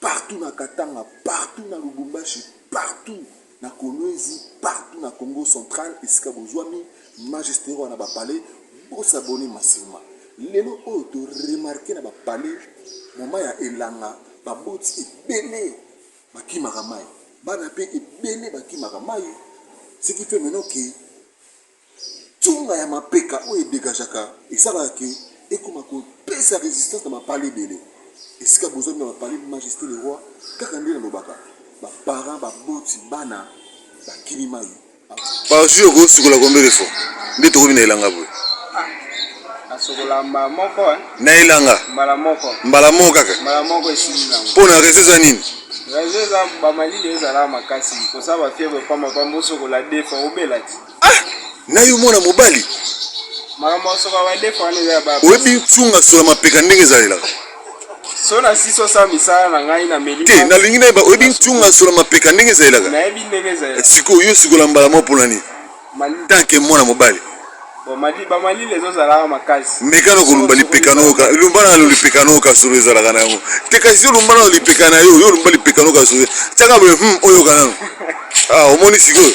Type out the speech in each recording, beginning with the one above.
Partout na Katanga, partout na Lubumbashi, partout na Kolwezi, partout na Kongo central esika bozuami, Magistero na ba palais, bo s'abonner massivement. Lelo oyo to remarquer na ba palais, moment ya elanga, ba boti ebele ba kimaka mayi, bana pe ebele ba kimaka mayi, ce qui fait maintenant que, Ntonga ya mapeka oyo e degageaka esalaka que ekoma ko pesa resistance na ba pale ebele. Esika bozwami na ba pale Majeste le Roi, kaka nde na lobaka, ba parents, ba boti, bana ba kimi mayi awa. Par jour oko sukola combien de fois? Nde tokomi na elanga boye. Ah na sokola mbala moko hein. Na elanga? Mbala moko. Mbala moko kaka? Mbala moko esili nango. Pona raison eza nini? Raison eza ba malili ezalaka makasi, kosala ba fièvre pamba pamba osokola deux fois obela ti. Ah, nayo mwana mobali oyebi nsunga sola mapeka ndenge ezalelaka te nalingi nayeba oyebi nsunga sola mapeka ndenge ezalelaka eh, sikoyo yo sikola mbala moko mpona nini tanke mwana mobali mekana kolumba lipekano oyo lumba na yo lipekano oyo kasolo ezalaka na yango te kasi yo lumba na yo lipeka na yo yo lumba lipekano kasolo tiaka boye hmm, oyoka nano ah, omoni sikoyo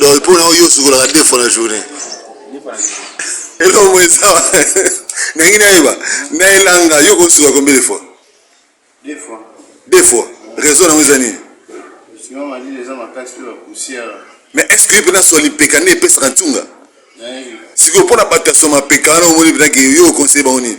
Donc mpo na oyo osukolaka deux fois na journée eloko eza nangi nayeba na elanga yo kosuka combien de fois deux fois raison nango eza nini mais est ce que yo mpena swa lipeka nde epesaka ntunga sikoyo mpo na bato ya swa mapeka wana omoni mpenake yo oconseille bango nini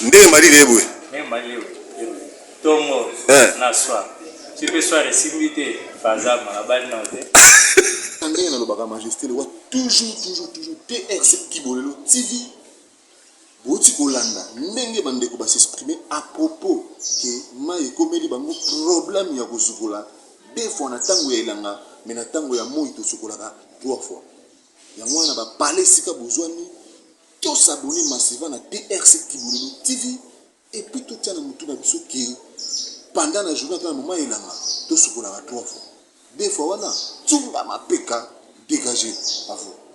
Nde mali lebwe. Nde mali lebwe. Tongo eh. na swa. Soki swa esimbi te baza malabali na te. Ndenge nalobaka majesté le roi toujours toujours toujours TRC Kibolelo TV boti kolanda ndenge bandeko ba s'exprimer à propos que mai ekomeli bango problème ya kosukola deux fois na tango ya elanga mais na tango ya moi tosukolaka trois fois yango wana bapale esika bozwani To s'abonner massiva na DRC Kibolelo TV et puis to tia na mutu na biso que pendant la journee ata na moment ya elanga to sukolaka trois fois. Deux fois wana timba mapeka degage. A vous.